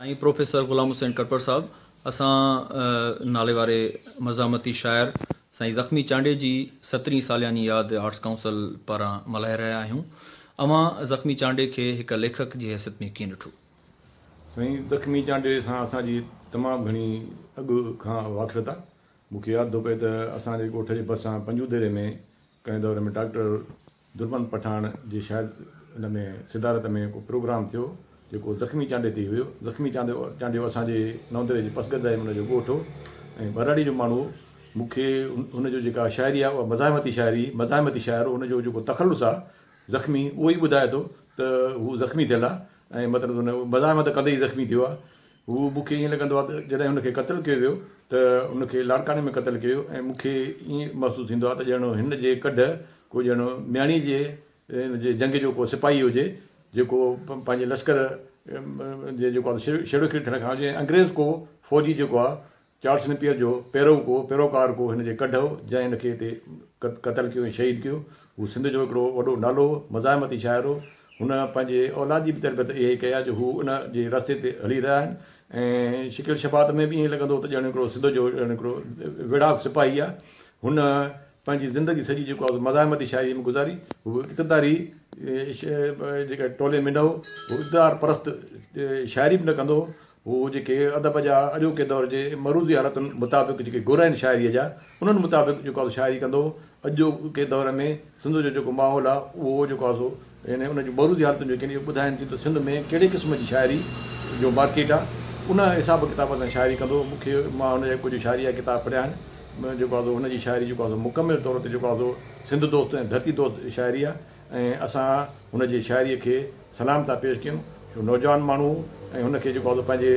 ۽ Professor Ghulam Hussain Katpar sahib اسان ناليواري مزاحمتي شاعر سائين زخمي چانڊئي جي سترهين سالياني ياد آرٽس ڪائونسل پاران ملهائي رهيا آهيون اوهان زخمي چانڊئي کي هڪ ليکڪ جي حيثيت ۾ ڪيئن ڏٺو؟ سائين زخمي چانڊئي سان اسان جي تمام گهڻي اڳ کان واقفيت آهي مون کي ياد ٿو پئي ته اسان جي ڳوٺ جي ڀرسان پنجوديري ۾ ڪنهن دور ۾ ڊاڪٽر دربن پٺاڻ جي شايد ان ۾ صدارت ۾ ڪو پروگرام ٿيو جيڪو زخمي چانڊيو تي هيو. زخمي چانڊيو اسان جي نوندري جي پسگرد آهي ان جو ڳوٺ هو ۽ ٻهراڙي جو ماڻهو هو. مون کي هن جو جيڪا شاعري آهي اها مزاحمتي شاعري مزاحمتي شاعر هو ان جو جيڪو تخلص آهي زخمي اهو ئي ٻڌائي ٿو ته هو زخمي ٿيل آهي ۽ مطلب مزاحمت ڪندي ئي زخمي ٿيو آهي هو مون کي ائين لڳندو آهي ته جڏهن هن کي قتل ڪيو ويو ته هن کي لاڙڪاڻي ۾ قتل ڪيو ويو ۽ مون کي ائين محسوس ٿيندو آهي ته ڄڻ هن جي ڪڍ ڪو ڄڻ مياڻي جي ان جي جنگ جو ڪو سپاهي هجي جيڪو پنهنجي لشڪر جي جيڪو آهي سو شيروخير ٿيڻ کان اڳ ۽ انگريز ڪو فوجي جيڪو آهي چارلس نيپيئر جو پيرو ڪو پيروڪار ڪو هن جي ڪڍ هو، جنهن هن کي هتي قتل ڪيو ۽ شهيد ڪيو. هو سنڌ جو هڪڙو وڏو نالو هو، مزاحمتي شاعر هو. هن پنهنجي اولاد جي به تربيت اهي ئي ڪئي آهي جو هو ان جي رستي تي هلي رهيا آهن ۽ شڪل شباهت ۾ به ائين لڳندو هو ته ڄڻ هڪڙو سنڌ جو ڄڻ هڪڙو ويڙهاڪ سپاهي آهي. هن پنهنجي زندگي سڄي جيڪو آهي سو مزاحمتي شاعريء ۾ گذاري. هو هڪ اقتداري جيڪا ٽولي ۾ نه هو. هو اقتدار پرست شاعري به نه ڪندو هو. هو جيڪي ادب جا اڄوڪي دور جي معروضي حالتن مطابق جيڪي گر آهن شاعريء جا، انهن مطابق جيڪو آهي سو شاعري ڪندو هو. اڄوڪي دور ۾ سنڌ جو جيڪو ماحول آهي، اهو جيڪو آهي سو يعني ان جي معروضي حالتن جو ڪين اهو ٻڌائين ٿيون ته سنڌ ۾ ڪهڙي قسم جي شاعري جو مارڪيٽ آهي، ان حساب ڪتاب سان شاعري ڪندو هو. مون کي مان هن جا ڪجهه شاعري جا ڪتاب پڙهيا آهن. جيڪو آهي سو هن جي شاعري جيڪو آهي سو مڪمل طور تي جيڪو آهي سو سنڌ دوست ۽ ڌرتي دوست شاعري آهي ۽ اسان هن جي شاعريء کي سلام ٿا پيش ڪيون جو نوجوان ماڻهو ۽ هن کي جيڪو پنهنجي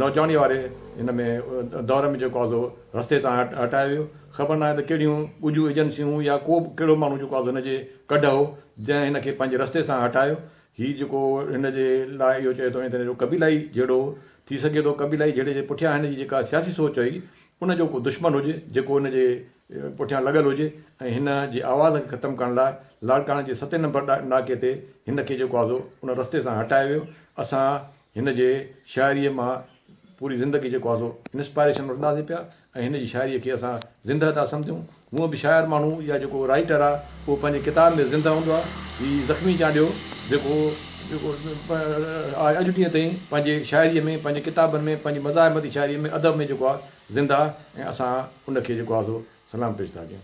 نوجواني واري ان ۾ دور ۾ جيڪو رستي تان هٽايو ويو خبر ناهي ته ڪهڙيون ڳجهون ايجنسيون يا ڪو به ڪهڙو ماڻهو جيڪو هن جي ڪڍ هو جنهن هن کي پنهنجي رستي سان هٽايو هي جيڪو هن جي لاء اهو چئي ٿو ته جو قبيلائي جهيڙو ٿي سگهي ٿو قبيلائي جهيڙي جي پٺيان هن جي جيڪا سياسي سوچ هئي ان جو ڪو دشمن هجي جيڪو هن جي پٺيان لڳل هجي ۽ هن جي آواز کي ختم ڪرڻ لاء لاڙڪاڻي جي ستين نمبر ناڪي تي هن کي جيڪو آزو ان رستي سان هٽايو ويو اسان هن جي شاعري مان پوري زندگي جيڪو آزو انسپائريشن وٺنداسين پيا ۽ هن جي شاعري کي اسان زنده ٿا سمجهون هونء به شاعر ماڻهو يا جيڪو رائيٽر آ اهو پنهنجي ڪتاب ۾ زنده هوندو آ هي زخمي چانڊيو جيڪو جيڪو آء اڄ ڏينهن تائين پنهنجي شاعري ۾ پنهنجي ڪتابن ۾ پنهنجي مزاحمتي شاعري ۾ ادب ۾ جيڪو آ زنده ۽ اسان ان کي جيڪو آهي سو سلام پيش ٿا ڪيون.